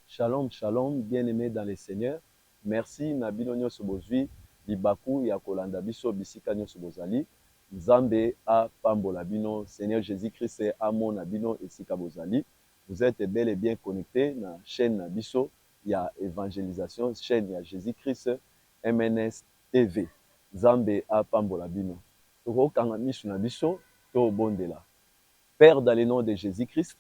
Shalom, shalom, bien-aimé dans le Seigneur. Merci na bino nyonso bozui libaku ya kolanda biso bisika nyonso bozali. Nzambe apambola bino. Seigneur Jésus-Christ amona bino esika bozali. Vous êtes bel et bien connecté na chaîne na biso ya evangelisation chaine ya Jesus Christ MNS TV nzambe apambola bino toko kanga misu na biso to bondela père dans le nom de Jesus Christ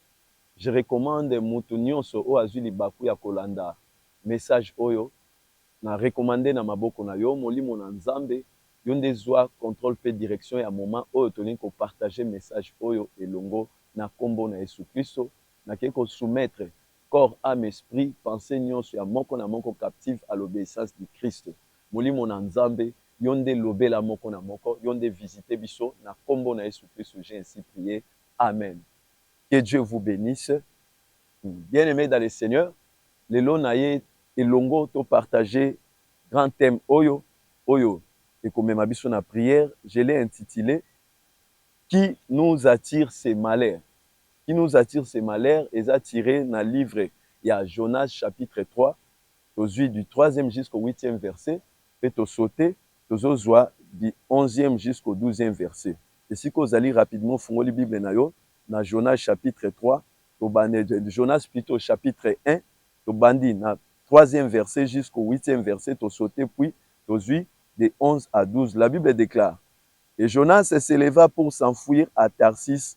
je recommande mutu nionso oyo azui libaku ya kolanda message oyo na recommande na maboko na yo molimo na nzambe yo nde zua controle pe direction ya moment oyo tolingi ko partage message oyo elongo na kombo na yesu Christo na ke ko soumettre Corps, ame, esprit, pensee nionso ya moko na moko captive à l'obeissance du Christ. Molimo na Nzambe, yo nde lobela moko na moko, yo nde visiter biso, na kombo na Yesu Christ j'ai ainsi prie, Amen. Que Dieu vous benisse bien aime dans le Seigneur, lelo naye elongo to partager grand thème oyo, oyo ekomema biso na prière, je l'ai intitule, qui nous attire ces malheurs? Qui nous attire ses malheurs eza tire na livre ya Jonas chapitre 3, tozui du troisième jusqu'au huitième verset mpe to sauter tozozua du onzième jusqu'au douzième verset. Esika ozali rapidement ofungoli bible na yo na Jonas chapitre 3, toband, Jonas plutot chapitre un, tobandi na troisième verset jusqu'au huitième verset, to sauter puis tozui de onze à douze. La Bible declare, Et Jonas s'eleva pour s'enfuir à Tarsis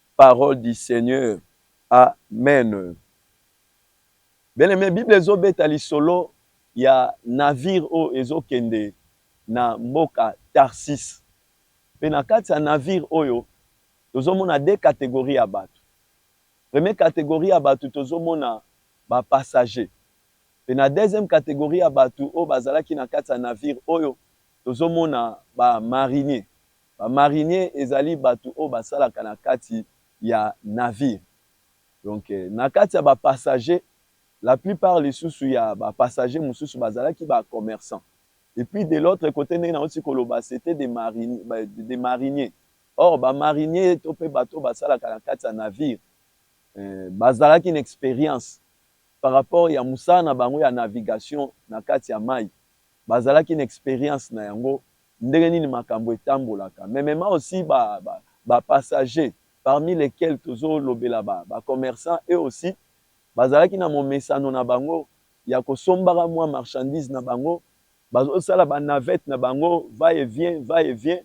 Parole du seigneur amen bien aime bible ezo beta lisolo ya navire oyo ezo kende na mboka tarsis pe na kati ya navire oyo tozo mona de categorie ya batu premier categorie ya batu tozo mona ba passager pe na deuxième categorie ya batu oyo bazalaki na kati ya navire oyo tozo mona ba marinier Ba marinier ezali batu oyo basalaka na kati ya navire donc na kati ya ba passagers la plus part lisusu ya ba passagers mususu bazalaki ba commerçants et puis de l'autre cote ndenge nauti koloba c'etait des mariniers des mariniers or ba mariniers to pe batu oyo basalaka na kati ya navire bazalaki na experience par rapport ya musala na bango ya navigation na kati ya mayi bazalaki na experience na yango Ndenge nini makambo etambolaka mais mema aussi ba ba passagers parmi lesquels tozo lobela ba ba commerçants eux aussi bazalaki na momesano na bango ya ko sombaka mua marchandises na bango bazo sala ba navettes na bango va et vient va et vient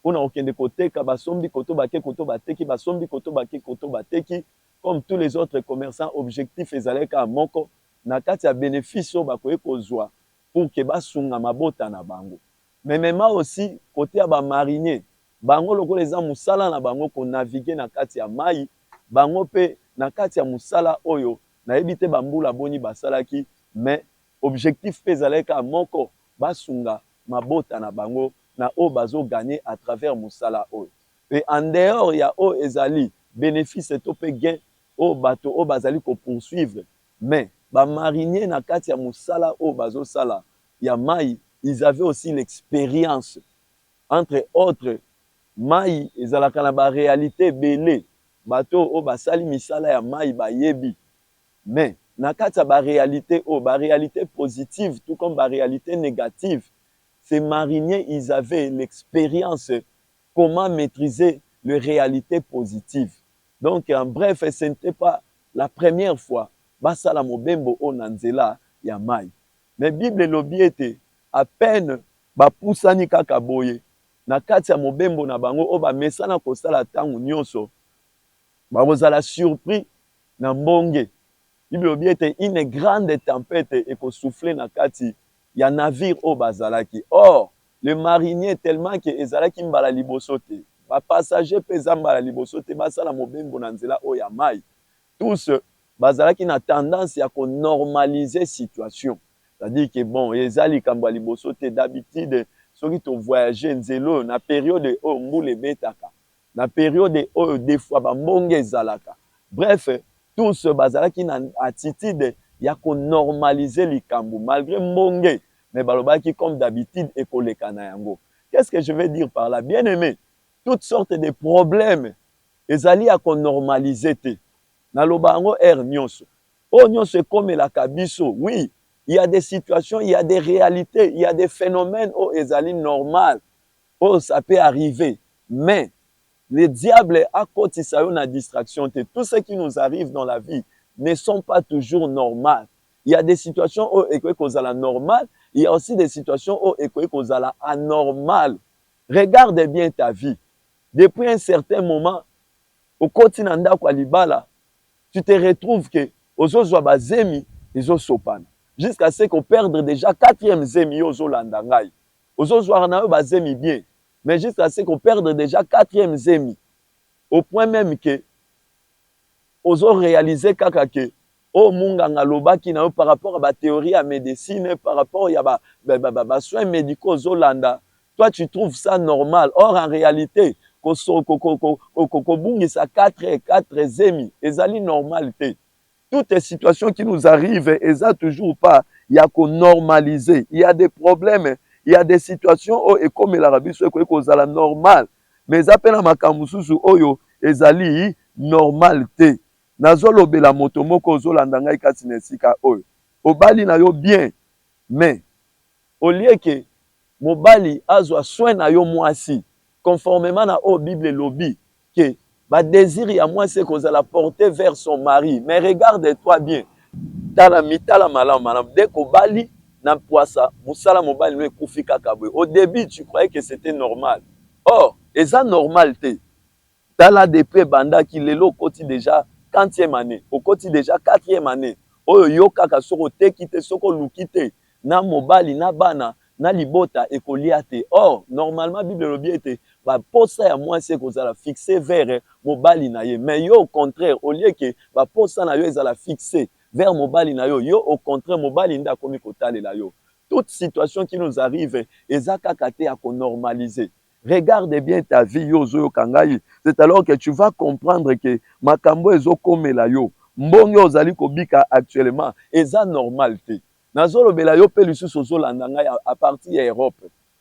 pona ko kende ko teka basombi koto bake koto bateki basombi koto bake koto bateki comme tous les autres commerçants objectif ezalaki kaka moko na kati ya benefice oyo bakoki kozua pour que ba sunga mabota na bango mais mema aussi cote ya ba mariniers bango lokola eza musala na bango ko naviguer na kati ya mayi bango pe na kati ya musala oyo na yebi te ba mbula boni ba salaki mais objectif pe ezalaki kaka moko ba sunga mabota na bango na oyo bazo gagner à travers musala oyo et en dehors ya oyo ezali benefice to pe gain oyo bato oyo bazali ko poursuivre Mais ba mariniers na kati ya musala oyo bazo sala ya mayi ils avaient aussi l'experience entre autres mayi ezalaka na ba realite ebele bato oyo basali misala ya mayi bayebi mais na kati ya ba realite oyo ba realite positive tout comme ba realite negative ces mariniers ils avaient l'experience comment maitrise le realite positive donc en bref ce n'etait pas la première fois basala mobembo oyo na nzela ya mayi mais bible elobi ete à peine ba pusani kaka boye na kati ya mobembo na bango oyo ba mesana kosala tango nionso bakozala surpris na mbonge bible elobi ete une grande tempete eko souffler na kati ya navire oyo bazalaki or le marinier tellement que ezalaki mbala liboso te ba passagers pe eza mbala liboso te basala mobembo na nzela oyo ya mayi tous bazalaki na tendance ya ko normaliser situation c'est à dire que bon eza likambo ya liboso te d'habitude soki to voyager nzela oyo na periode oyo mbula ebetaka Na periode oyo de fois ba mbonge ezalaka. Bref, tous bazalaki na attitude ya ko normaliser likambo malgre mbonge mais balobaki comme d'habitude ekoleka na yango. Qu'est-ce que je veux dire par là? Bien aime, toutes sortes de problèmes ezali ya ko normaliser te. Naloba yango heure nionso. Oyo nionso ekomelaka biso. Oui, il ya des situations, il ya des realites, il ya des phenomènes oyo ezali normal. Po ça peut arriver mais le diable akotisa yo na distraction te tout ce qui nous arrive dans la vie ne sont pas toujours normal il ya des situations oyo ekoki kozala normal il ya aussi des situations oyo ekoki kozala anormal regarde bien ta vie depuis un certain moment okoti na ndaku ya libala tu te retrouve que ozo zua ba zemi ezo sopana jusqu'à ce que o perdre dejà quatrième zemi yo ozo landa ngai Ozo zwaka nayo ba zemi bien mais jusqu'à ce que o perdre dejà quatrième zemi au point meme que ozo realiser kaka que oyo munganga alobaki nayo par rapport ya ba theorie ya medecine, par rapport ya ba soins medicaux ozo landa, toi tu trouves ça normal or en realite ko bungisa quatre zemi ezali normal te. toutes les situations qui nous arrivent eza toujours pas ya ko normaliser il y a des problèmes il y a des situations oyo ekomelaka biso ekoki kozala normal mais eza mpe na makambo mosusu oyo ezali normal te nazolobela moto moko ozolanda ngai kati na esika oyo obali na yo bien mais au lieu que mobali azwa soin na yo muasi conformement na oyo bible elobi que ba desir ya muasi ekozala porte vers son mari mais regarde toi bien tala mitala malamu malamu dès kobali na puasa musala mobali no ekufi kaka boye au debut tu croyais que c'etait normal or eza normal te. Tala depuis ebandaki lelo okoti dejà quantième annee? Okoti dejà quatrième annee oyo yo kaka soki oteki te soki oluki te na mobali na bana na libota ekolia te or normalement bible elobi ete ba posa ya muasi ekozala fixe vere mobali na ye mais yo au contraire au lieu que ba posa na yo ezala fixe vere mobali na yo yo au contraire mobali nde akomi kotalela yo toute situation qui nous arrive eza kaka te ya ko normaliser Regarde bien ta vie yo ozo yoka ngai c'est alors que tu vas comprendre que makambu oyo ezo komela yo mbonge oyo ozali ko bika actuellement eza normal te nazo lobela yo pe lisusu ozo landa ngai à partir ya Europe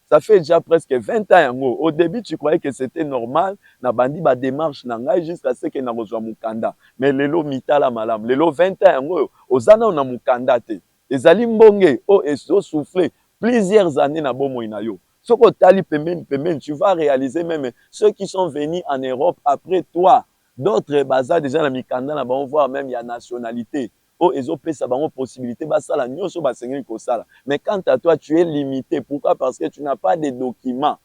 ça fait dejà presque 20 ans yango au debut tu croyais que c'etait normal na bandi ba demarche na ngai jusqu'à ce que nako zua mukanda mais lelo mitala malamu lelo 20 ans yango oyo oza nanu na mukanda te ezali mbonge oyo ezo souffle plusieurs annees na bomoi na yo Soki otali pembeni pembeni tu vas realiser meme ceux qui sont venus en Europe après toi d'autres baza dejà na mikanda na bango voir meme ya nationalite oyo ezo pesa bango possibilite basala nionso oyo basengeli kosala mais quant à toi tu es limite pourquoi parce que tu n'as pas des documents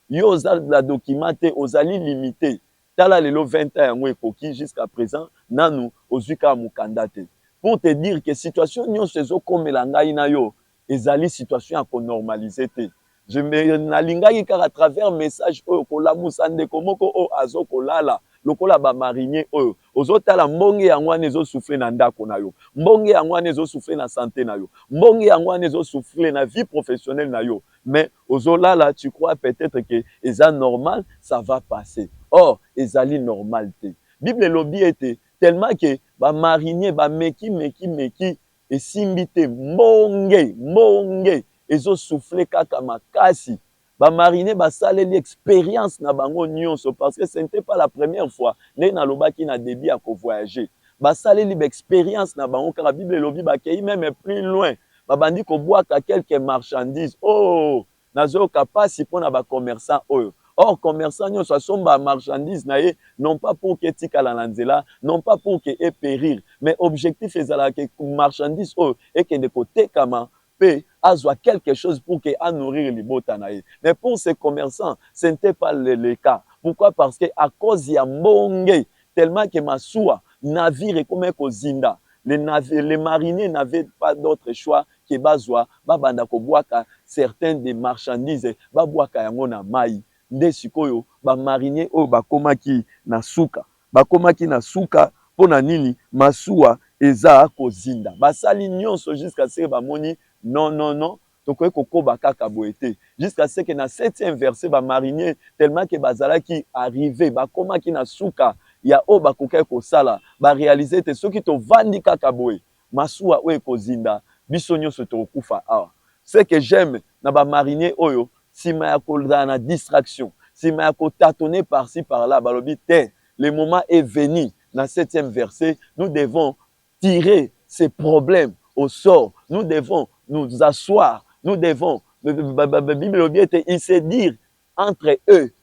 yo oza na document te ozali limite tala lelo 20 ans yango ekoki jusqu'à present nanu ozui kaka mukanda te pour te dire que situation nionso ezo komela ngai na yo Ezali situation ya ko normaliser te. Je me nalingaki kaka à travers message oyo kolamusa ndeko moko oyo azo kolala lokola ba mariniers oyo ozo tala mbonge yango wana ezo souffler na ndako na yo, mbonge yango wana ezo souffler na sante na yo, mbonge yango wana ezo souffler na vie professionnelle na yo mais ozo lala tu crois peut etre que eza normal ça va passer or ezali normal te. Bible elobi ete tellement que ba mariniers ba meki meki meki esimbi te mbonge mbonge ezo souffle kaka makasi ba marine basaleli experience na bango nionso parce que ce n'etait pas la première fois ndenge nalobaki na debut ya ko voyager basaleli ba experience na bango kaka bible elobi bakeyi meme plus loin babandi kobwaka quelques marchandises ooh Nazoyoka pasi pona ba commerçants oyo. Or commerçant nionso asomba marchandise na ye non pas pour que etikala na nzela, non pas pour que e perir mais objectif ezalaka que marchandise oyo ekende kotekama mpe azwa quelque chose pour que a nourrir libota na ye. Mais pour ce commerçant, ce n'etait pas le cas. Pourquoi? Parce que à cause ya mbonge tellement que masuwa, navire, ekomaki kozinda, les mariniers n'avaient pas d'autre choix que bazwa ba banda ko bwaka certains des marchandises ba bwaka yango na mayi nde sikoyo ba mariniers oyo ba komaki na suka ba komaki na suka pona nini masuwa eza ko zinda ba sali nionso jusqu'à ce que ba moni non non non tokoki ko koba kaka boye te jusqu'à ce que na septième verset ba mariniers tellement que ba zalaki arriver ba komaki na suka ya oyo ba kokaki ko sala ba realiser ete soki to vandi kaka boye Masuwa oyo ekozinda biso nionso tokokufa awa ce que j'aime na ba mariniers oyo sima ya kozala na distraction sima ya ko tatonner par ci par là balobi te le moment est venu na septième verse nous devons tirer ce problème au sort nous devons nous assoir nous devons bible elobi ete il se dire entre eux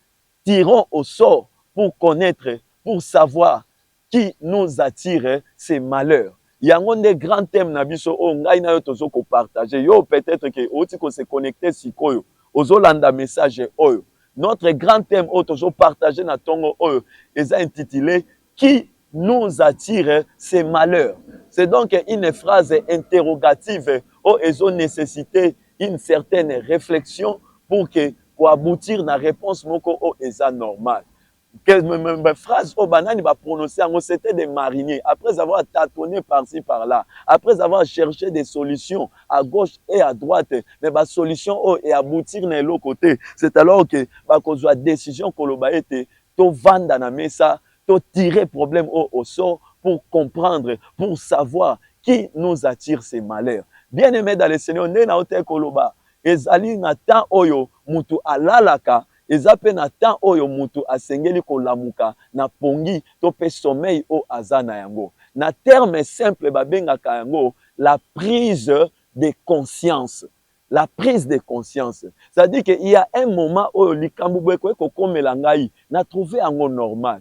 tirons au sort pour connaitre pour savoir Qui nous attire c'est malheur yango nde grand thème na biso oyo ngai na yo tozo ko partager yo peut etre que owuti ko se connecter sikoyo ozo landa message oyo notre grand thème oyo tozo partager na tongo oyo eza intitule qui nous attire c'est malheur c'est donc une phrase interrogative oyo ezo necessiter une certaine reflexion pour que ko aboutir na reponse moko oyo eza normal phrase oyo banani ba prononce yango c'était des mariniers après avoir tâtonné par ci par là après avoir cherché des solutions à gauche et à droite mais ba solution oyo e aboutir na eloko te c'est alors que bakozwa décision koloba ete tovanda na mesa to tirer problème oyo au sort pour comprendre pour savoir qui nous attire ces malheurs bien aimé dans le seigneur nde naotaki koloba ezali na temps oyo mutu alalaka Eza mpe na temps oyo mutu asengeli kolamuka na pongi to mpe sommeil oyo aza na yango. Na terme simple babengaka yango la prise de conscience. La prise de conscience c'est à dire que il ya un moment oyo likambo boye ekoki kokomela ngai na trouver yango normal.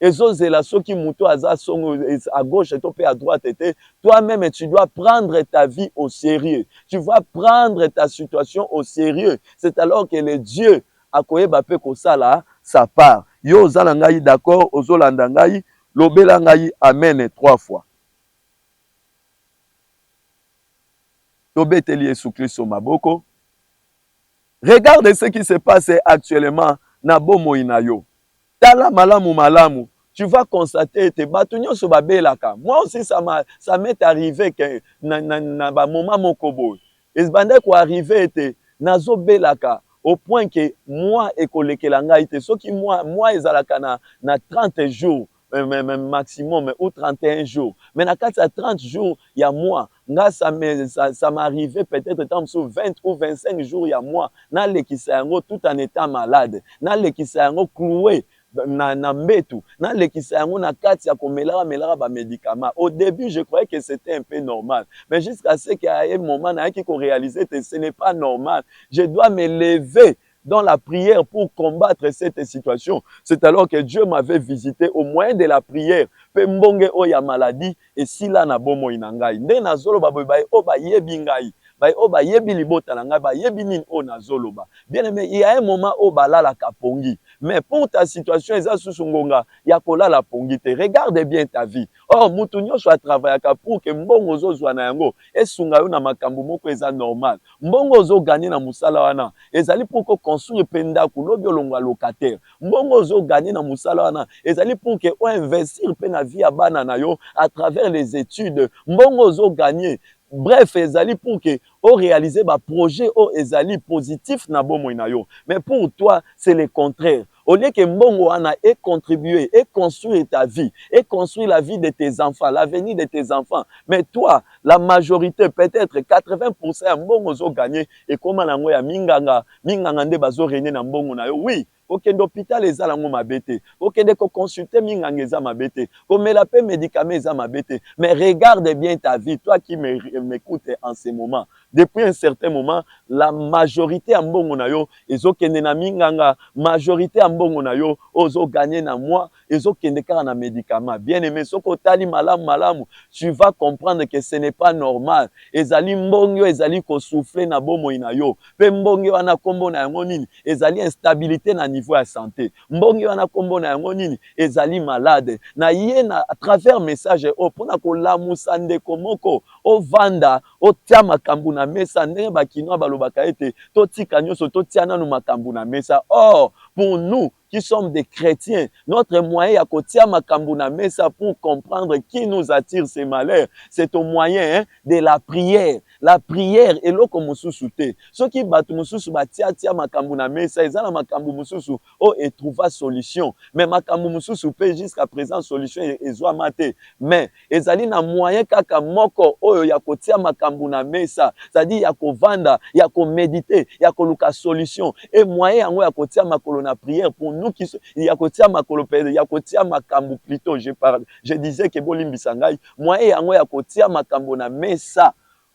ezo zela soki mutu aza songo à gauche to pe à droite te toi meme tu dois prendre ta vie au serieux tu vois prendre ta situation au serieux c'est alors que le Dieu akoyeba pe kosala sa part yo oza na ngai d'accord ozo landa ngai lobela ngai amen trois fois to beteli yesu klisto maboko regarde ce qui se passe actuellement na bomoi na yo. Tala malamu malamu tu vas constater ete batu nionso ba belaka. Moi aussi ça m'a ça m'est arrive que na na na ba moment moko boye ebandaki ko arriver ete nazo belaka au point que mois ekolekela ngai te soki mois mois ezalaka na na 30 jours maximum ou 31 jours mais na kati ya 30 jours ya mois Nga ça me ça m'arrive peut etre tango mosusu 20 ou 25 jours ya mois na lekisa yango tout en etant malade na lekisa yango cloue na na mbetu na lekisa yango na kati ya ko melaka melaka ba medicaments au debut je croyais que c'etait un peu normal mais jusqu'à ce que à un moment nayaki ko realiser que ce n'est pas normal je dois me lever dans la prière pour combattre cette situation c'est alors que Dieu m'avait visite au moyen de la prière pe mbonge oyo ya maladie esila na bomoi na ngai nde nazoloba boye baye oyo bayebi ngai baye oyo bayebi libota na ngai bayebi nini oyo nazoloba bien aime il y a un moment oyo balalaka pongi mais pour ta situation eza susu ngonga ya kolala pongi te regarde bien ta vie Or mutu nionso a travaillaka pour que mbongo ozo zua na yango esunga yo na makambu moko eza normal. Mbongo ozo gagner na musala wana ezali pour que o construire pe ndaku lobi olongua locataire. Mbongo ozo gagner na musala wana ezali pour que o investir pe na vie ya bana na yo à travers les etudes. Mbongo ozo gagner bref ezali pour que o realiser ba projets oyo ezali positif na bomoi na yo mais pour toi c'est le contraire au lieu que mbongo wana e contribuer e construire ta vie e construire la vie de tes enfants l'avenir de tes enfants mais toi la majorite peut etre 80 pourcent ya mbongo ozo gagner ekoma na yango ya minganga minganga nde bazo regner na mbongo na yo oui Kokende hopital eza nango mabe te, kokende ko consulter minganga eza mabe te, komela pe medicament eza mabe te mais regarde bien ta vie, toi qui m'ecoute en ce moment depuis un certain moment la majorite ya mbongo nayo ezo kende na minganga, majorite ya mbongo nayo oyo ozo gagner na mois ezo kende kaka na medicament bien aime soki otali malamu malamu tu vas comprendre que ce n'est pas normal ezali mbonge ezali ko souffler na bomoi na yo pe mbonge wana kombo na yango nini ezali instabilite na niveau ya sante mbonge wana kombo na yango nini ezali malade na ye na à travers message oyo pona kolamusa ndeko moko ovanda otia makambu na mesa ndenge ba kinois balobaka ete totika nyoso totia nanu makambu na mesa or pour nous qui sommes des chretiens, notre moyen ya kotia makambu na mesa pour comprendre qui nous attire ces malheurs, c'est au moyen hein, de la prière. La prière eloko mususu te. Soki batu mususu ba tia tia makambu na mesa, eza na makambu mususu o e trouva solution. Mais makambu mususu pe jusqu'à present solution ezuama te. Mais Ezali na moyen kaka moko oyo ya kotia makambu na mesa, c'est à dire ya kovanda, ya ko mediter, ya koluka solution et moyen yango ya kotia makolo na prière pour nous qui ya kotia makolo pede ya kotia makambu plutot je par je disais que bolimbisa ngai moyen yango ya kotia makambo na mesa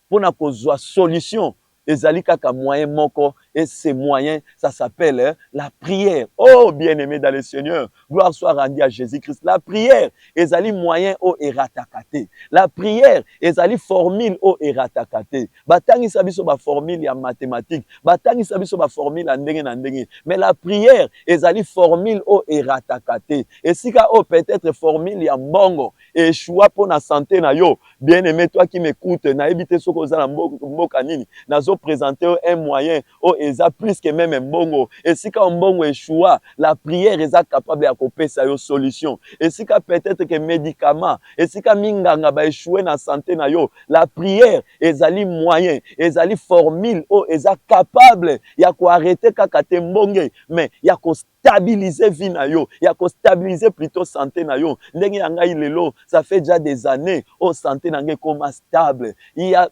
Pona kozua solution ezali kaka moyen moko et ce moyen ça s'appelle la prière oh bien aime dans le seigneur gloire soit rendu à Jesus Christ la prière ezali moyen oyo erataka te la prière ezali formule oyo erataka te ba tangisa biso ba formule ya mathematique ba tangisa biso ba formule ya ndenge na ndenge mais la prière ezali formule oyo erataka te esika oyo peut-etre formule ya mbongo echoua pona sante na yo bien aime toi qui m'ecoute na yebi te soki oza na mboka nini nazo presente yo un moyen oyo eza plus que meme mbongo esika oyo mbongo echoua la prière eza capable ya ko pesa yo solution esika peut etre que medicament esika minganga ba echoue na sante na yo la prière ezali moyen ezali formule oyo eza capable ya ko arreter kaka te mbonge mais ya ko stabiliser vie na yo ya ko stabiliser plutot sante na yo ndenge ya ngai lelo ça fait dejà des annees oyo sante na ngai ekoma stable ya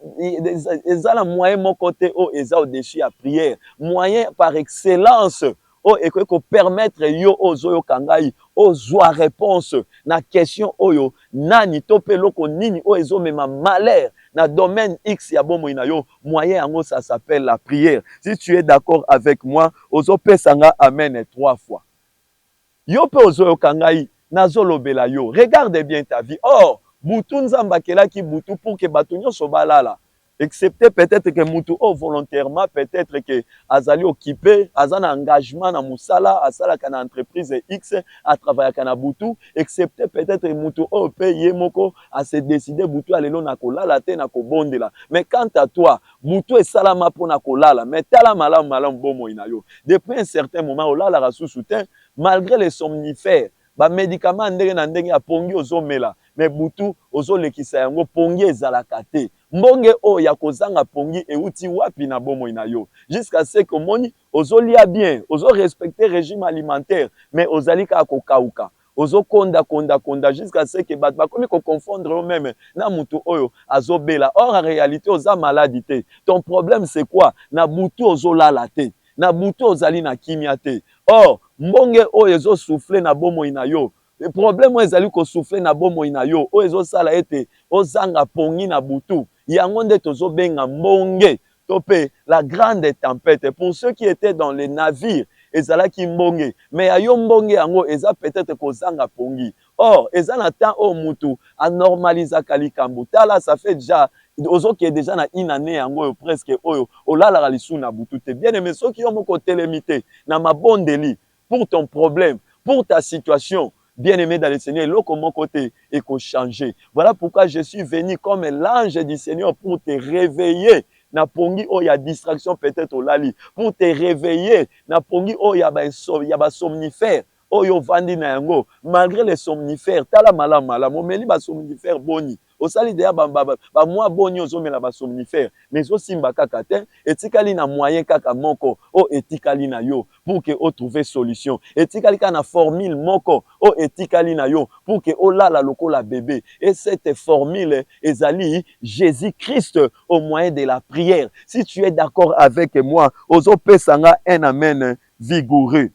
eza na moyen moko te oyo eza au dessus ya prière moyen par excellence oyo ekoki ko permettre yo oyo ozoyoka ngai ozwa réponse na question oyo nani to mpe eloko nini oyo ezomema malheur na domaine x ya bomoi na yo Moyen yango ça s'appelle la prière si tu es d'accord avec moi ozo pesa nga amen trois fois yo pe ozo yoka ngai nazo lobela yo regarde bien ta vie or butu nzambe akelaki butu pour que batu nionso ba lala excepte peut-etre que mutu oyo volontairement peut-etre que azali occupe aza na engagement na musala asalaka na entreprise X a travaillaka na butu excepte peut-etre mutu oyo pe ye moko a se decider butu ya lelo nakolala te nakobondela mais quant à toi butu esalama mpo na kolala mais tala malamu malamu bomoi na yo depuis un certain moment olalaka susu te malgre les somnifères ba medicaments ya ndenge na ndenge ya pongi ozomela mais butu ozolekisa yango pongi ezalaka te mbonge oyo ya kozanga pongi euti wapi na bomoi na yo jusqu'à ce que omoni Ozo lia bien, ozo respecter regime alimentaire mais ozali kaka ko kauka. Ozo konda konda konda jusqu'à ce que batu bakomi ko confondre yo meme na mutu oyo azo bela or en realite oza malade te. Ton problème c'est quoi? Na butu ozo lala te, na butu ozali na kimia te or mbonge oyo ezo souffler na bomoi na yo, problème oyo ezali ko souffler na bomoi na yo oyo ezo sala ete ozanga pongi na butu yango nde tozo benga mbonge. To pe la grande tempete pour ceux qui etaient dans le navire ezalaki mbonge mais ya yo mbonge yango eza peut-etre kozanga pongi or eza na temps oyo mutu a normalisaka likambo tala ça fait dejà ozo kende dejà na une annee yango oyo presque oyo olalaka lisusu na butu te bien aime soki yo moko otelemi te na mabondeli pour ton problème, pour ta situation bien aime dans le seigneur eloko moko te eko change voilà pourquoi je suis venu comme l'ange du seigneur pour te reveiller na pongi oyo ya distraction peut-être olali pour te reveiller na pongi oyo ya ba ya ba somnifère oyo ovandi na yango malgré les somnifères tala malamu malamu omeli ba somnifère boni Osali dejà ba ba ba mois boni ozo mela ba somnifère mais ezo simba kaka te etikali na moyen kaka moko oyo etikali na yo pour que o trouver solution etikali kaka na formule moko oyo etikali na yo pour que o lala lokola bebe et cette formule ezali Jesus Christ au moyen de la prière si tu es d'accord avec moi ozo pesa nga un amen vigoureux.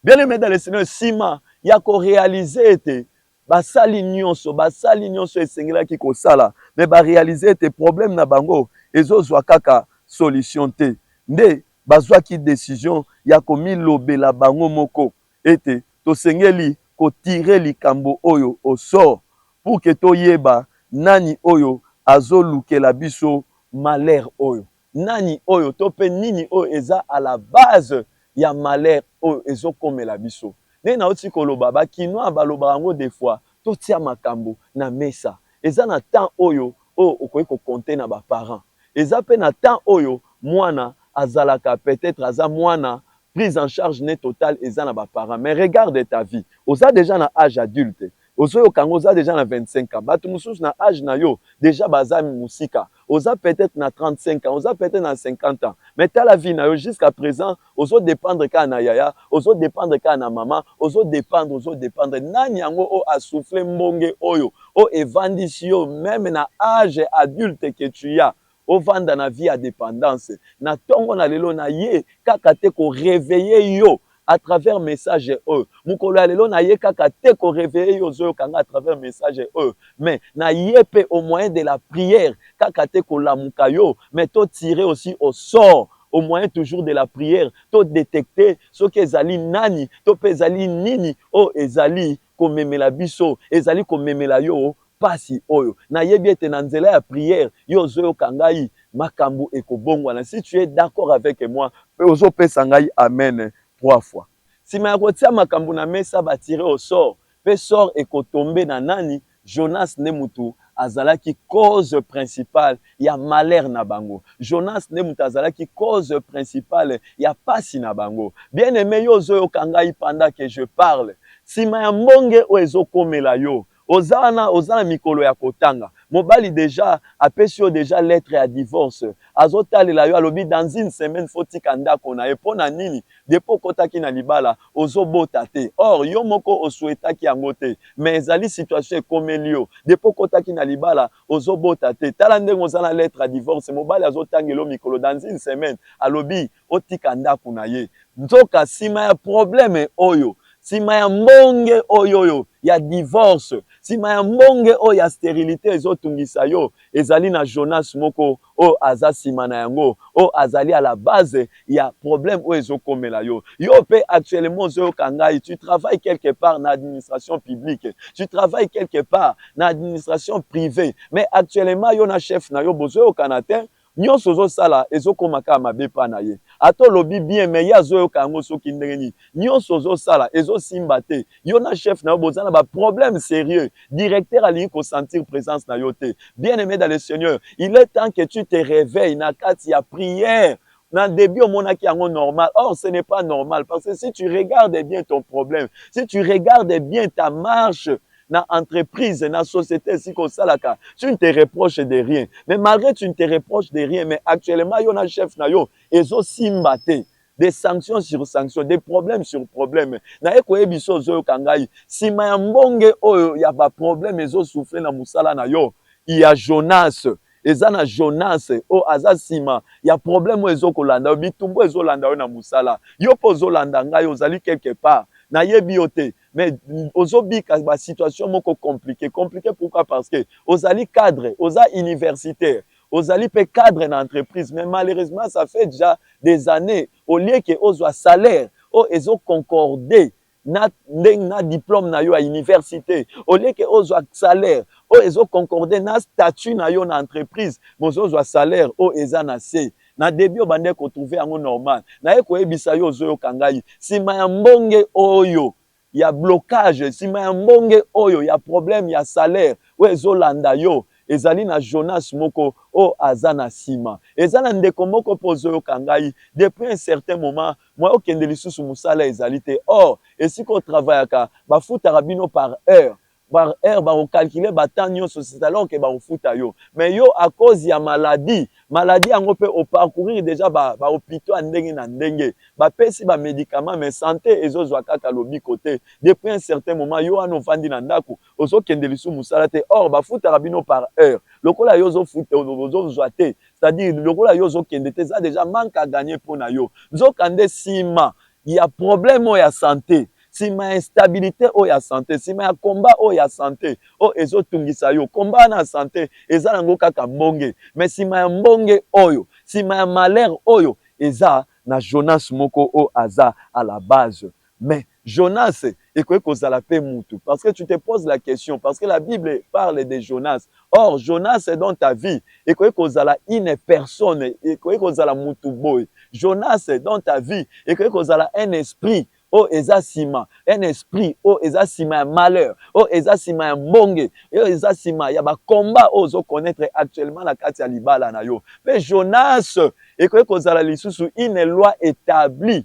Bien-aime dans le Seigneur, sima ya ko realiser ete basali nionso, basali nionso esengelaki kosala mais ba realiser ete problème na bango ezo zua kaka solution te, nde bazuaki decision ya komilobela bango moko ete tosengeli ko tirer likambo oyo au sort pour que toyeba nani oyo azolukela biso malheur oyo. Nani oyo to pe nini oyo eza à la base ya malheur oyo ezo komela biso? Ndenge nawuti koloba ba kinois balobaka yango de fois totia makambu na mesa. Eza na temps oyo oyo okoki ko compter na ba parents. Eza pe na temps oyo muana azalaka peut etre aza muana prise en charge ne totale eza na ba parents mais regarde ta vie oza dejà na age adulte Ozo yoka yango oza dejà na 25 ans batu mususu na age na yo dejà baza musika oza peut etre na 35 ans oza peut etre na 50 ans mais tala vie na yo jusqu'à present ozo dependre kaka na yaya ozo dependre kaka na maman ozo dependre ozo dependre nani yango oyo a souffle mbonge oyo oyo evandisi yo meme na age adulte que tu as ovanda na vie ya dependance na tongo na lelo na ye kaka te ko reveille yo à travers message oyo mukolo ya lelo na ye kaka te ko reveille yo ozo yoka nga à travers message oyo mais na ye pe au moyen de la prière kaka te ko lamuka yo mais to tirer aussi au sort au moyen toujours de la prière to detecter soki ezali nani to pe ezali nini oyo ezali ko memela biso ezali ko memela yo pasi oyo na yebi ete na nzela ya prière yo ozo yoka ngai makambu eko bongwana si tu es d'accord avec moi pe ozo pesa ngai amen trois fois sima ya ko tia makambu na mesa ba tire au sort pe sort eko tomber na nani Jonas nde mutu azalaki cause principale ya malheur na bango Jonas nde mutu azalaki cause principale ya pasi na bango bien aime yo ozo yoka ngai pendant que je parle sima ya mbonge oyo ezo komela yo Oza wana oza na mikolo ya kotanga. Mobali dejà apesi yo dejà lettre ya divorce. Azo talela yo alobi dans une semaine faut otika ndako na ye. Pona nini? Depuis okotaki na libala ozo bota te. Or yo moko o souhaitaki yango te mais ezali situation ekomeli yo. Depuis okotaki na libala ozo bota te. Tala ndenge oza na lettre ya divorce. Mobali azo tangela yo mikolo dans une semaine alobi otika ndako na ye. Nzoka sima ya probleme oyo, sima ya mbonge oyoyo ya divorce, sima ya mbonge oyo ya sterilite ezo tungisa yo, ezali na Jonas moko oyo aza sima na yango, oyo azali à la base ya probleme oyo ezo komela yo. Yo pe actuellement ozo yoka ngai, tu travailles quelque part na administration publique, tu travailles quelque part na administration privee, mais actuellement yo na chef na yo bozo yokana tein, Nionso ozo sala ezo koma kaka mabe epa na ye. Ata olobi bien mais ye azo yoka yango soki ndenge nini. Nionso ozo sala ezo simba te. Yo na chef na yo boza na ba problèmes serieux. Directeur alingi ko sentir presence na yo te. Bien aime dans le seigneur il est temps que tu te reveille na kati ya prière. Na debut omonaki yango normal or ce n'est pas normal parce que si tu regardes bien ton problème, si tu regardes bien ta marche, na entreprise na societe esika osalaka tu ne te reproche de rien mais malgre tu ne te reproche de rien mais actuellement yo na chef na yo ezosimba te des sanctions sur sanctions des problèmes sur problèmes naye koyebi biso ozoyoka ngai nsima ya mbonge oyo ya baproblème ezosouffle na mosala na yo ya jonas eza na jonas oyo aza nsima ya problème oyo ezokolanda yo bitumbu ezolanda yo na mosala yo mpe ozolanda ngai ozali quelque part nayebi yo te mais ozobika ba situation moko complique complique pourquoi parce que ozali cadre oza universitaire ozali pe cadre na entreprise mais malheureusement ça fait déjà des années au lieu que ozwa salaire oyo ezo concorder na ndenge na diplome na yo ya universite au lieu que ozwa salaire oyo ezo concorder na statut na yo na entreprise mais ozozwa salaire oyo eza na se Na debut obandaki ko trouver yango normal, naye koyebisa yo ozo yoka ngai sima ya mbonge oyo ya blocage, sima ya mbonge oyo ya problème ya salaire oyo ezo landa yo, ezali na Jonas moko oyo aza na sima. Eza na ndeko moko pe ozo yoka ngai depuis un certain moment, moyen okende lisusu musala ezali te, or esika o travaillaka ba futaka bino par heure, par heure bako calculer ba temps nionso c'est alors que bako futa yo mais yo à cause ya maladie maladie yango pe o parcourir dejà ba hopitaux ya ndenge na ndenge ba pesi ba medicaments mais sante ezo zua kaka lobiko te depuis un certain moment yo wana ovandi na ndaku ozo kende lisusu musala te or ba futaka bino par heure lokola yo ozo futa ozo zua te c'est à dire lokola yo ozo kende te eza dejà manque à gagner pona yo nzoka nde sima ya problème oyo ya sante sima ya instabilite oyo ya sante, sima ya combat oyo ya sante oyo ezo tungisa yo. Combat wana ya sante eza nango kaka mbonge mais sima ya mbonge oyo, sima ya malheur oyo eza na Jonas moko oyo aza à la base. Mais Jonas ekoki kozala pe mutu parce que tu te pose la question parce que la bible parle de Jonas or Jonas dans ta vie ekoki kozala une personne, ekoki kozala mutu boye. Jonas dans ta vie ekoki kozala un esprit oyo eza sima un esprit oyo eza sima ya malheur oyo eza sima ya mbonge oyo eza sima ya ba combat oyo ozo connaitre actuellement na kati ya libala na yo pe Jonas ekoki kozala lisusu une loi etablie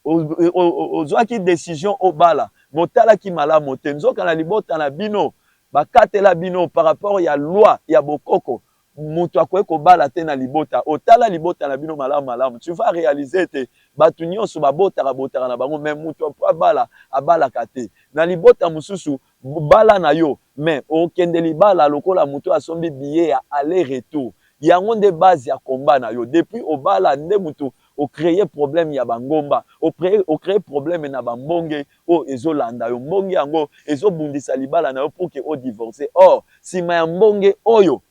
ozuaki decision obala mais otalaki malamu te nzoka na libota na bino bakatela bino par rapport ya loi ya bokoko mutu akoki kobala te na libota oyo tala libota na bino malamu malamu tu vas realiser ete batu nionso babotaka botaka na bango mais mutu apo abala abalaka te na libota mususu bala na yo mais okende libala lokola mutu oyo asombi billet ya aller retour yango nde base ya combat na yo depuis obala nde mutu o creer problème ya ba ngomba, o creer problème na ba mbonge oyo ezo landa yo, mbonge yango ezo bundisa libala na yo pour que o divorcer, or sima ya mbonge oyo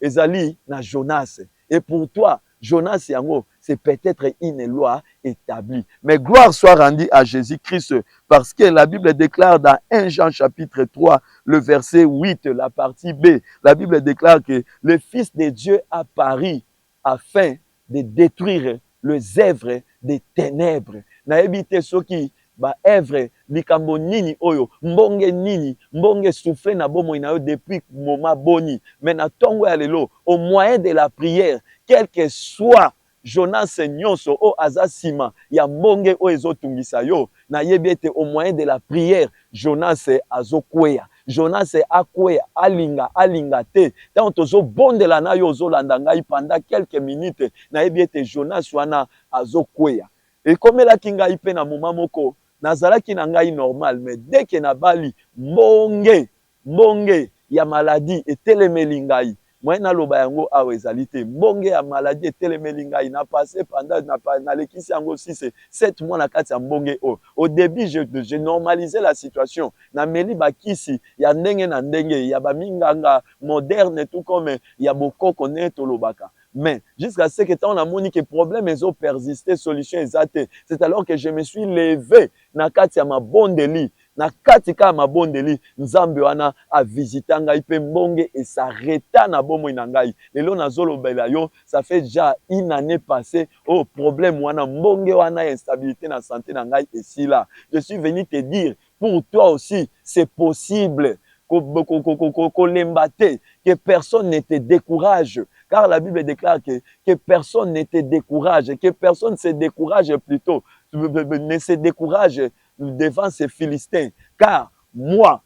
ezali na Jonas et pour toi Jonas yango c'est peut etre une loi etablie. Mais gloire soit rendue à Jesus Christ parce que la bible declare dans 1 Jean chapitre 3 le verset 8 la partie B la bible declare que le fils de Dieu a paru afin de detruire les oeuvres de tenèbres nayebi te soki ba oeuvres likambo nini oyo mbonge nini mbonge e souffre na bomoi na yo depuis moment boni mais na tongo ya lelo au moyen de la prière quelque soit Jonas nionso oyo aza sima ya mbonge oyo ezo tungisa yo nayebi ete au moyen de la prière Jonas azo kweya Jonas akweya alinga alinga te tango tozo bondela nayo ozo landa ngai pendant quelques minutes nayebi ete Jonas wana azo kweya ekomelaki ngai pe na moment moko nazalaki na ngai normal mais dès que nabali mbonge Mbonge ya maladi etelemeli ngai. Moyen naloba yango awa ezali te. Mbonge ya maladi etelemeli ngai. Na passer pendant, nalekisi yango six et sept mois na kati ya mbonge oyo. Au debut, je normaliser la situation. Nameli ba kisi ya ndenge na ndenge, ya ba minganga modernes tout comme ya bokoko ndenge tolobaka. Mais, jusqu'à ce que tango namoni que problème ezo persister, solution eza te, c'est alors que je me suis lever na kati ya mabondeli, Na kati ka ya mabondeli, Nzambe wana a visita ngai pe mbonge e s'arreta na bomoi na ngai. Lelo nazo lobela yo, ça fait dejà une annee passee oyo problème wana, mbonge wana ya instabilite na sante na ngai esila. Je suis venu te dire, pour toi aussi c'est possible, ko lemba te, que personne ne te decourage, car la bible declare que, que personne ne te decourage, que personne se decourage plutot, ne se decourage, devant ces philistins car moi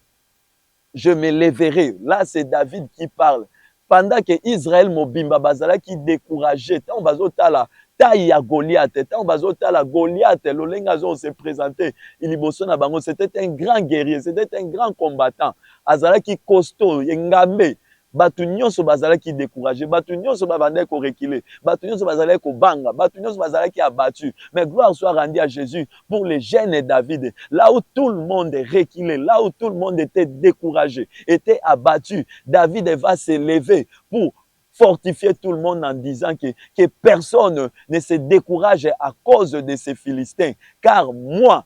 je me leverai là c'est David qui parle pendant que Israël mobimba bazalaki decourage tango bazotala taille ya Goliath tango bazotala Goliath lolenge azo se presenter liboso na bango c'était un grand guerrier c'était un grand combattant azalaki costaud engambe Bato nyonso bazalaki decourager, bato nyonso ba bandaki ko reculer, bato nyonso bazalaki kobanga, bato nyonso bazalaki abattus, mais gloire soit rendue à Jesus pour le jeune David, là où tout le monde reculait, là où tout le monde etait decourage, etait abattu, David va se lever pour fortifier tout le monde en disant que que personne ne se decourage à cause de ces philistins, car moi,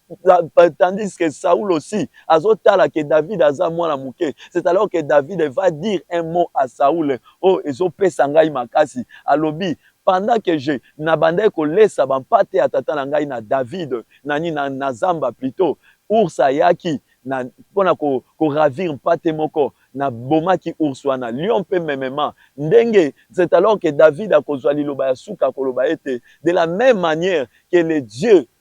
tandis que Saul aussi azotala que David aza mwana muke c'est alors que David va dire un mot à Saul oh ezopesa ngai makasi alobi pendant que je nabandaki kolesa bampate ya tata na ngai na David na nini na, na zamba plutôt ours ayaki na mpona ko, ko ravir mpate moko na bomaki ours wana lion mpe memema ndenge c'est alors que David akozwa liloba ya suka akoloba ete de la même manière que le Dieu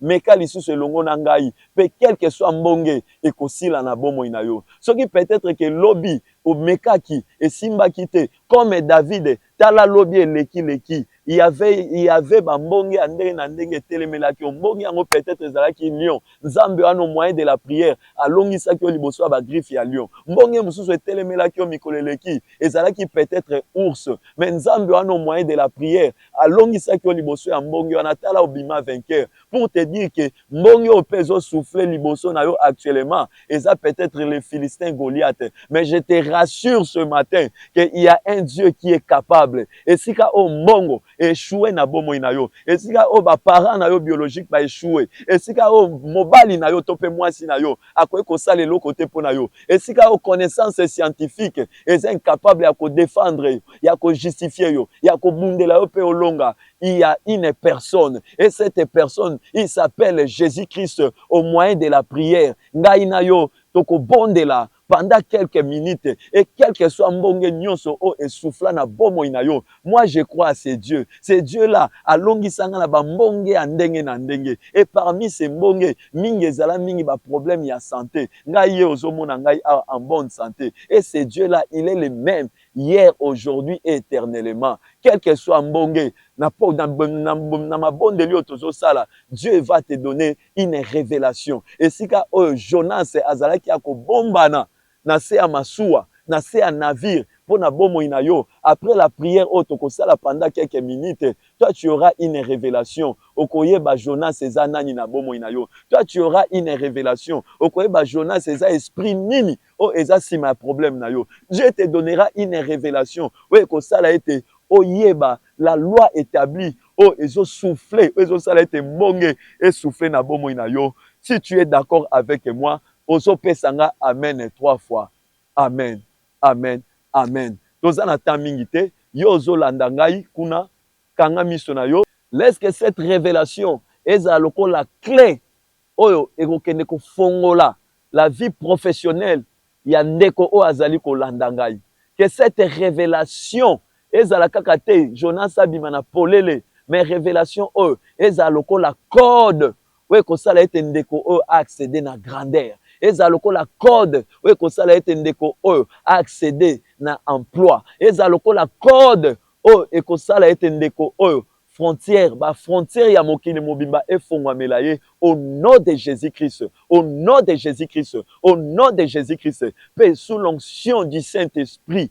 Meka lisusu elongo na ngai, pe quelque soit mbonge ekosila na bomoi na yo. Soki peut-etre que lobi omekaki, esimbaki te, comme David, tala lobi eleki leki, il y avait, il y avait ba mbonge ya ndenge na ndenge etelemelaki yo. Mbonge yango peut-etre ezalaki lion. Nzambe wana au moyen de la prière alongisaki yo liboso ya ba griffes ya lion. Mbonge mosusu etelemelaki yo mikolo eleki, ezalaki peut-etre ours. Mais Nzambe wana au moyen de la prière, alongisaki yo liboso ya mbonge wana tala obima vainqueur pour te dire que mbonge oyo mpe ezo souffler liboso na yo actuellement eza peut-être le philistin Goliath mais je te rassure ce matin que il y a un Dieu qui est capable esika oyo mbongo echoue na bomoi na yo esika oyo ba parents na yo biologique ba echoue esika oyo mobali na yo to mpe mwasi na yo akoki kosala eloko te mpo na yo. Esika oyo connaissance scientifique eza incapable ya ko defendre yo, ya ko justifier yo, ya kobundela yo mpe olonga, il y a une personne et cette personne il s'appelle Jesus Christ au moyen de la prière. Ngai na yo tokobondela pendant quelques minutes et quelque soit mbonge nionso oyo e souffla na bomoi na yo Moi je crois à ce Dieu, ce Dieu là alongisa nga na ba mbonge ya ndenge na ndenge et parmi ces mbonge mingi ezala mingi ba problèmes ya sante ngai ye ozo mona ngai awa en bonne sante et ce Dieu là il est le meme hier, aujourd'hui et eternellement quel que soit mbonge na, na, na, na mabondeli oyo tozosala Dieu va te donner une révélation esika oyo Jonas azalaki ya kobombana na se ya masuwa, na se ya navire po na bomoi na yo, après la prière oyo toko sala pendant quelques minutes, toi tu auras une revelation, oko yeba Jonas eza nani na bomoi na yo, toi tu auras une revelation, oko yeba Jonas eza esprit nini oyo eza sima ya problème na yo, Dieu te donnera une revelation oyo eko sala ete oyeba la loi etablie oyo ezo souffler, oyo ezo sala ete mbonge e souffler na bomoi na yo, si tu es d'accord avec moi, ozo pesa nga amen trois fois amen amen amen toza na temps mingi te yo ozo landa ngai kuna kanga miso na yo. Laisse que cette revelation ezala lokola cle oyo ekokende kofongola la vie professionnelle ya ndeko oyo azali kolanda ngai. Que cette revelation ezala kaka te Jonas abima na polele mais revelation oyo ezala lokola code oyo ekosala ete ndeko oyo a acceder na grandeur, ezala lokola code oyo ekosala ete ndeko oyo a acceder na emploi, ezala lokola code oyo ekosala ete ndeko oyo frontière, ba frontières ya mokili mobimba efongwamela ye au nom de Jesus Christ, au nom de Jesus Christ, au nom de Jesus Christ, mpe sous l'onction du Saint Esprit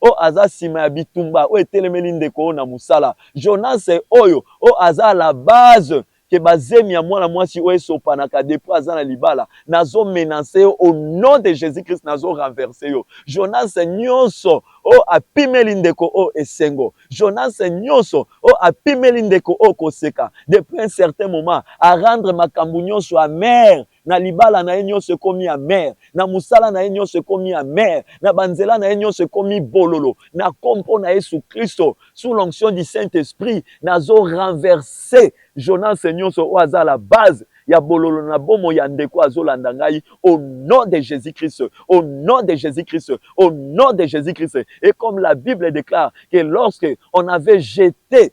oyo aza sima ya bitumba oyo etelemeli ndeko oyo na musala. Jonas oyo oyo aza à la base que ba zemi ya mwana mwasi oyo esopanaka depuis aza na libala. Nazo menance yo au nom de Jesus Christ nazo renverse yo. Jonas nionso oyo apimeli ndeko oyo esengo. Jonas nionso oyo apimeli ndeko oyo koseka depuis un certain moment a rendre makambu nionso amer Na libala na ye nionso ekomi amer, na mosala na ye nionso ekomi amer, na ba nzela na ye nionso ekomi bololo, na kompo na yesu christo sous l'onction du saint esprit nazo renverser Jonas nionso oyo aza à la base ya bololo na bomoi ya ndeko oyo azo landa ngai au nom de Jesus christ, au nom de Jesus christ, au nom de Jesus christ et comme la bible declare que lorsque on avait jete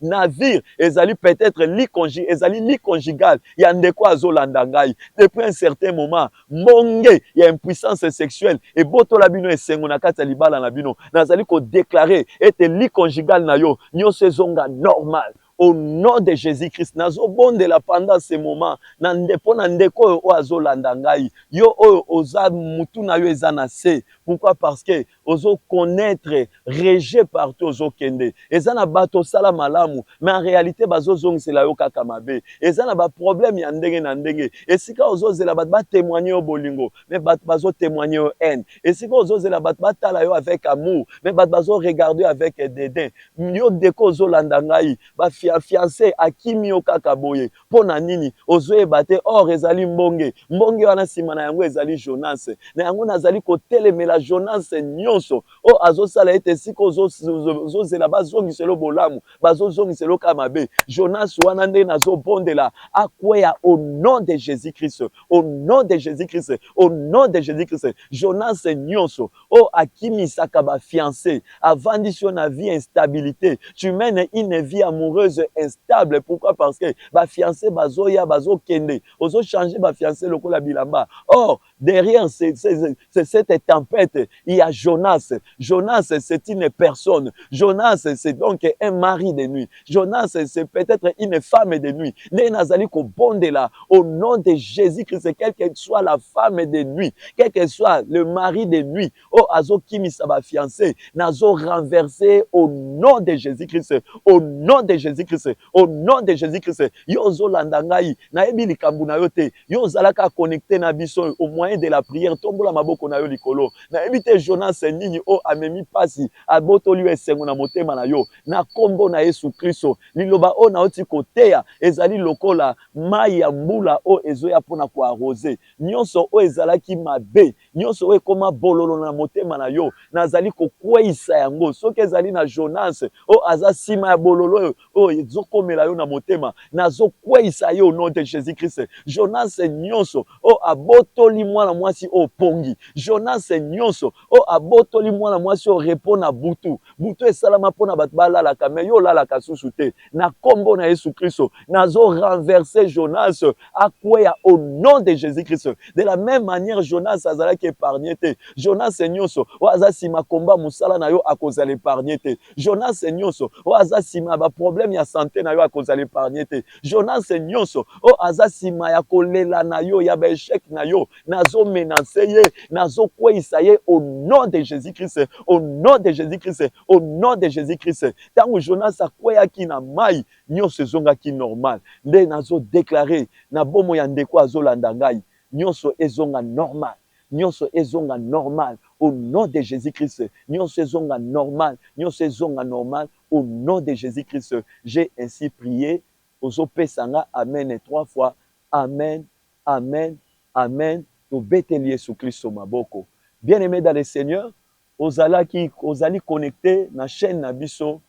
Nazir ezali peut-etre lit conjugal, ezali lit conjugal ya ndeko azo landa ngai. Depuis un certain moment, mbonge ya impuissance sexuelle ebotola bino esengo na kati ya libala na bino. Nazali ko declarer ete lit conjugal na yo nioso ezonga normal au nom de Jesus-Christ. Nazo bondela pendant ce moment na nde, po na ndeko oyo, oyo azo landa ngai. Yo oyo oza mutu na yo eza na se, pourquoi? Parce que ozo connaitre rejet partout ozo kende eza na bato osala malamu mais en realite bazo zongisela yo kaka mabe eza na ba problème ya ndenge na ndenge esika ozo zela bato ba temoigner yo bolingo mais bato bazo temoigner yo haine esika ozo zela bato batala yo avec amour mais bato bazo regarder yo avec dédain yo deko ozo landa ngai ba fiancé akimi yo kaka boye Mpo na nini ozoyeba te? Or ezali mbonge. Mbonge wana nsima na yango ezali Jonas. Na yango nazali kotelemela Jonas nyonso oyo azosala ete esika ozozela bazongisela yo bolamu, bazozongisela yo kaka mabe. Jonas wana nde nazobondela akweya au nom de Jesus-Christ, au nom de Jesus-Christ, au nom de Jesus-Christ. Jonas nyonso Oyo akimisaka ba fiances, avandisi yo na vie instabilite, tu mènes une vie amoureuse instable, pourquoi parce que ba fiances bazoya bazo kende, ozo changer ba fiances lokola bilamba, or derrière cette tempete il ya Jonas, Jonas c'est une personne, Jonas c'est donc un mari de nuit, Jonas c'est peut-être une femme de nuit. Ndenge nazali kobondela au nom de Jésus-Christ, quelle que soit la femme de nuit, quel que soit le mari de nuit, oh azokimisa ba fiancés, nazo renverser au nom de Jésus-Christ, au nom de Jésus-Christ, au nom de Jésus-Christ. Yo ozolanda ngai, nayebi likambo na yo te. Yo ozalaka connecté na biso au moyen de la prière, tombola maboko na yo likolo. Nayebi te Jonas nini oh amemi pasi, abotoli yo esengo na motema na yo. Na kombo na yesu klisto liloba oyo nawuti koteya ezali lokola mayi ya mbula oyo ezoya pona ko arrose nionso oyo ezalaki mabe nionso oyo ekoma bololo na motema na yo nazali kokweyisa yango soki ezali na Jonas oyo aza sima ya bololo oyo ezo komela yo na motema nazo kweyisa ye au nom de Jesus Christ Jonas nionso oyo abotoli mwana mwasi oyo pongi Jonas nionso O abotoli mwana mwasi oyo repos na butu. Butu esalama pona batu ba lalaka mais yo olalaka susu te. Na kombo na yesu christo nazo renverse Jonas akweya au nom de Jesus christ. De la meme maniere Jonas azalaki epargne te. Jonas nionso oyo aza sima combat musala na yo akozala epargne te. Jonas nionso oyo aza sima ba probleme ya sante na yo akozala epargne te. Jonas nionso oyo aza sima ya kolela na yo ya ba echec na yo. nazo menace ye nazo kweyisa ye au nom de Jesus Christ au nom de Jesus Christ au nom de Jesus Christ tango Jonas akweyaki na mayi nionso ezongaki normal nde nazo declare na bomo ya ndeko azo landa ngai nionso ezonga normal nionso ezonga normal au nom de Jesus Christ nionso ezonga normal nionso ezonga normal au nom de Jesus Christ j'ai ainsi prié ozo pesa nga amen trois fois amen Amen amen tobeteli yesu klisto maboko bien aime dans le seigneur ozalaki ozali connecte na chaine na biso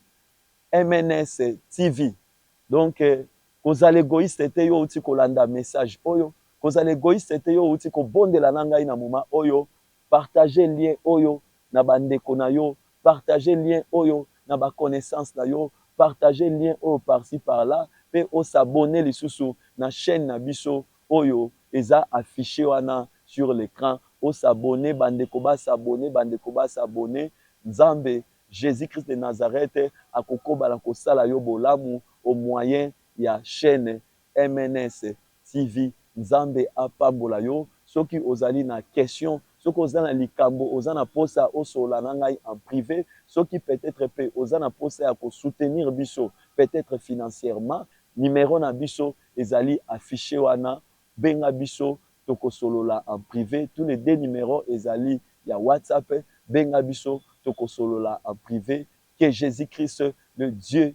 MNS TV donc kozala egoiste te yo owuti kolanda message oyo kozala egoiste te yo owuti kobondela na ngai na moment oyo Partager lien oyo na ba ndeko na yo, partager lien oyo na ba connaissance na yo, partager lien oyo par-ci par-là pe o s'abonner lisusu na chaine na biso oyo eza afficher wana sur l'ecran. O s'abonner, ba ndeko ba s'abonner, ba ndeko ba s'abonner. Nzambe, Jesus Christ de Nazareth, akokoba na kosala yo bolamu au moyen ya chaine MNS. TV nzambe apambola yo soki ozali na question soki oza na likambo oza na posa osolola na ngai en prive soki peut etre pe oza na posa ya ko soutenir biso peut etre financièrement numero na biso ezali affiche wana benga biso toko solola en prive tout les deux numero ezali ya WhatsApp benga biso toko solola en prive que Jesus Christ le Dieu